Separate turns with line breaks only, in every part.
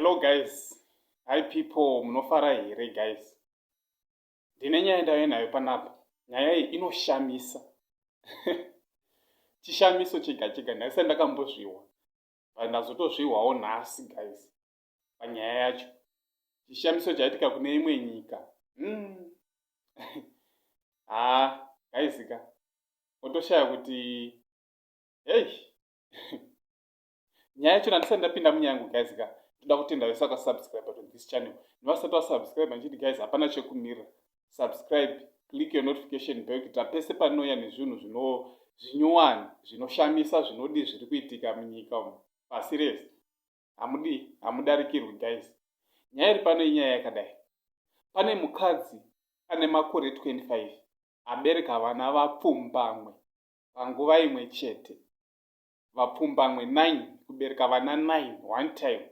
Hello guys. Hi people, munofara here guys? Ndine nyaya ndave nayo panapa. Nyaya iyi inoshamisa. Chishamiso chega chega ndakisa ndakambozvihwa. But ndazotozvihwawo nhasi guys. panyaya yacho chishamiso chaitika kune imwe nyika mm. haa gaizika otoshaya kuti hei nyaya yacho nandisati ndapinda munyaya yangu gaizika toda kutenda vese vakasubscribe to this channel nevasati vasubscribe andichiti guys hapana chekumirira subscribe click your notification bell kuitira pese panouya nezvinhu zvino zvinyowani zvinoshamisa zvinodi zviri kuitika munyika umu pasi rese hamudi hamudarikirwi guys nyaya iri pano inyaya yakadai pane mukadzi ane makore 25 abereka vana vapfumbamwe panguva imwe chete vapfumbamwe 9 kubereka vana 9 one time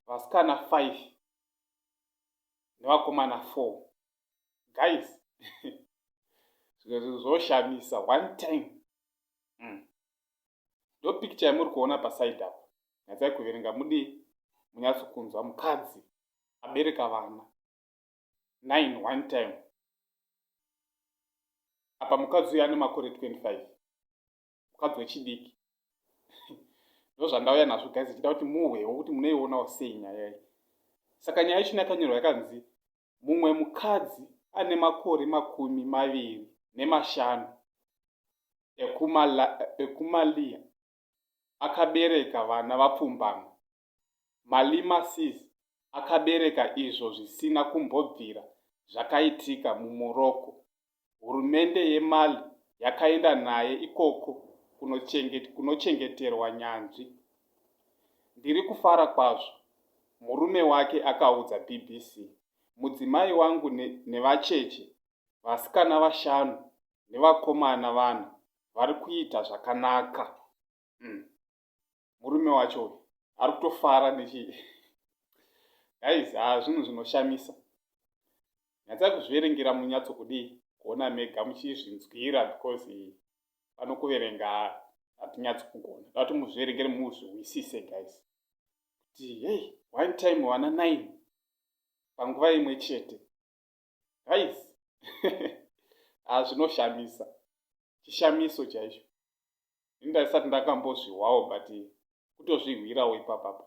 vasikana 5 nevakomana 4 guys zvimwe zvinhu zvoshamisa one time mm. ndo picture yamuri kuona paside apa nyatsai kuverenga mudii munyatso kunzwa mukadzi abereka vana nine one time apa mukadzi uyo ane makore 25 mukadzi wechidiki ndozvandauya nazvo guys ichida kuti muhwewo kuti munoionawo sei nyaya iyi saka nyaya ichina yakanyorwa yakanzi mumwe mukadzi ane makore makumi maviri nemashanu ekuMaliya akabereka vana vapfumbamwe. Malima Sis akabereka izvo zvisina kumbobvira zvakaitika muMorocco hurumende yeMali yakaenda naye ikoko kunochengeterwa nyanzvi. Ndiri kufara kwazvo, murume wake akaudza BBC. Mudzimai wangu nevacheche vasikana vashanu nevakomana vana vari kuita zvakanaka. murume wacho uyu ari kutofara nechi guys ha ah, zvinhu zvinoshamisa nyatsai kuzviverengera munyatso kudii kuona mega muchizvinzwira because pano kuverenga hatinyatsi kugona dati muzviverengere muzvihwisise guys kuti hei one time wana nine panguva imwe chete guys ah zvinoshamisa chishamiso chaicho ini ndaisati ndakambozvihwawo but kutozvihwirawo ipapapa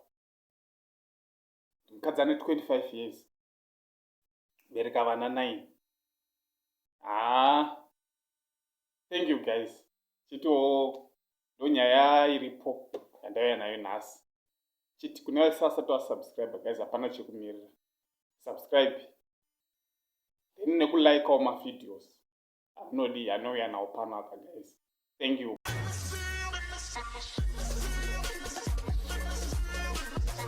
mukadzi ane 25 years bereka vana 9 haa ah, thank you guys chitiwo ndonyaya iripo yandauya nayo nhasi chiti kune vasasati vasubscribe guys hapana chekumirira subscribe then nekulikewo mavideos amunodi anouya nawo pano apa guys thank you